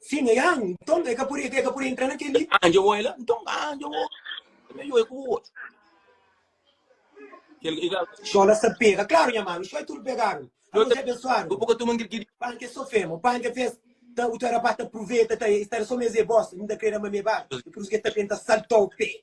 Sim, é an, nton e ka pode, e ka pode entra na keli. Anje o ela, nton anje o. Ela yo e ku o. Kel e ka. Xola sa pega, claro nha mano, xoi tudo pegaram. Alo se abençoado. Bo ka tuma ngirgidi. Pan ke so fema, pan ke fez. Ta o ta rapaz ta proveta, ta estar só mezê bosta, nda crê da mamê bar. E por isso que ta penta saltou pé.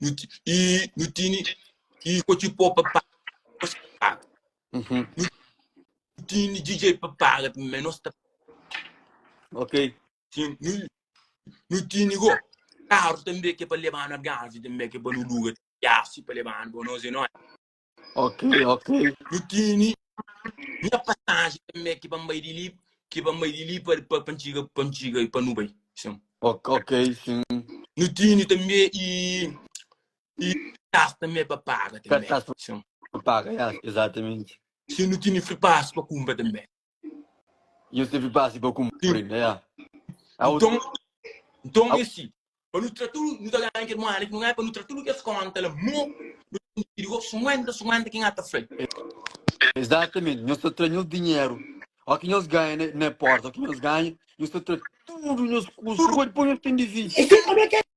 Nu ti- e nu tini e ko ti pô pa paga nos ta paga Uhum. nu tini didjei pa paga tanbe ma nos ta Ok. tin nu nu tini go karu tanbe ke pa lebanu algarvi tanbe ke pa nu luga tiasi pa lebanu bo nos e noi Ok, ok. Nu tini nha pasaji tanbe ki pa N bai di li, ki pa N bai di li pa pa pa N txiga, pa N txiga i pa nu bai. Sin. Ok, ok, sin. Nu tini tanbe i i kartas tanbe pa paga tanbe. Kartas pa Sin. paga, ya, ezatamenti. Sin, nu tini free pass pa kunpra tanbe. Nhos debe base pa kunpri, né? Au, Nton, nton é si, pa nu tra tudu, nu ta ganha kel muéda ki nu ganha, pa nu tra tudu kes kónta la, mo nu ta dividi ku sinkuénta, sinkuénta, ki Ngata fla-l. Exatamenti, nhos ta tra nhos dinheru. Ó ki nhos ganha na, na porta, ó ki nhos ganha, nhos ta tra tudu nhos kustu, pode poi nhos ten dividi. Esse é o meu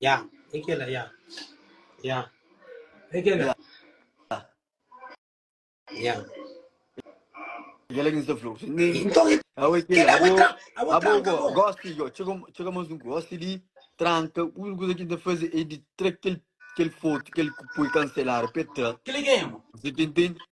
Ya, é kel-la, ya. Ya. É kel-la. Ya. Kel-la ki nu sta fla-u. Nton, Awe, é kel-la. Kel-la, kel-la, abo, abo tranka bo. Abo, gosi, yo, txiga, txiga más un gosi li, tranka. Úniku kuza ki nu ta faze é di tra kel, kel fotu, kel ki poi kanseladu pa el tra. Kel-la ki é, amo? N ta tenta.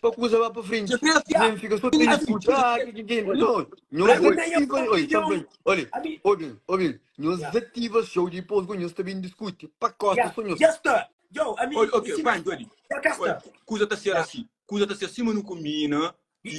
pa kuza ba pa frenti. Nen fika so ta iskuta, ah, ke ke ke. Non, nhos ativa, oi, ta fla, olha, obin, obin, nhos ativa shou, dipos ku nhos ta bin diskuti, pa kosa so nhos. Oi, ok, pantu ali. Oi, kuza ta ser asi, kuza ta ser sima nu kumbina, i.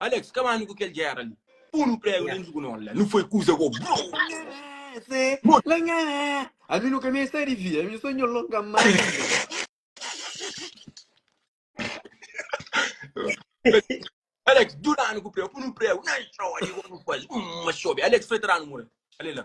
Alex, ka manu ku kel gera li. Pun un pregu dentu ku no la. Nu foi kuza go bro. Ami nu ka mi sta di via, ami so nho longa manga. Alex, duranu ku preu, punu preu, na xobi, go nu faz, ma xobi, Alex foi tranu mura, ale la.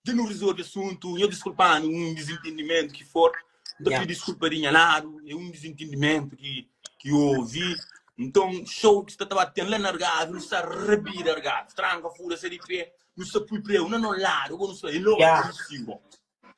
Dja nu resolve asuntu, nha diskulpanu un dizintindimentu ki for. N ta Ya. pidi diskulpa di nha ladu, é un dizintindimentu ki ki ovi. Nton, xou ki sta ta bati ten la na Argavi, nu sta rabida Argavi, tranka, fura, sali pé, nu sta pui preu na no ladu, bo nu sta elo Ya. atu di siwa.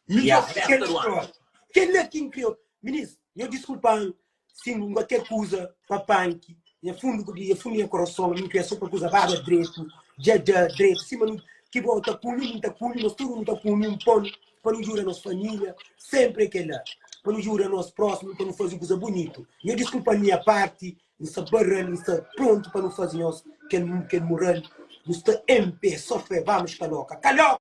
Ya. Midjor festa Kel du anu. stória. Kel-la ki N kre. Minis, nha diskulpanu. Sin bu ba ke kuza pa panki nha fundu ku dia fundu nha kurason mi pia so pa kuza bada dretu dja dja dretu sima nu ki bo ta kumi mi ta kumi nos tudu nu ta kumi un pon pa nu djuda nos familia senpri e kela pa nu djuda nos prosimu pa nu fazi kuza bunitu nho diskulpa nha parti nu sa barral nu sa prontu pa nu fazi nhos kel kel mural nu sta enpe so fe vamos kaloka kaloka.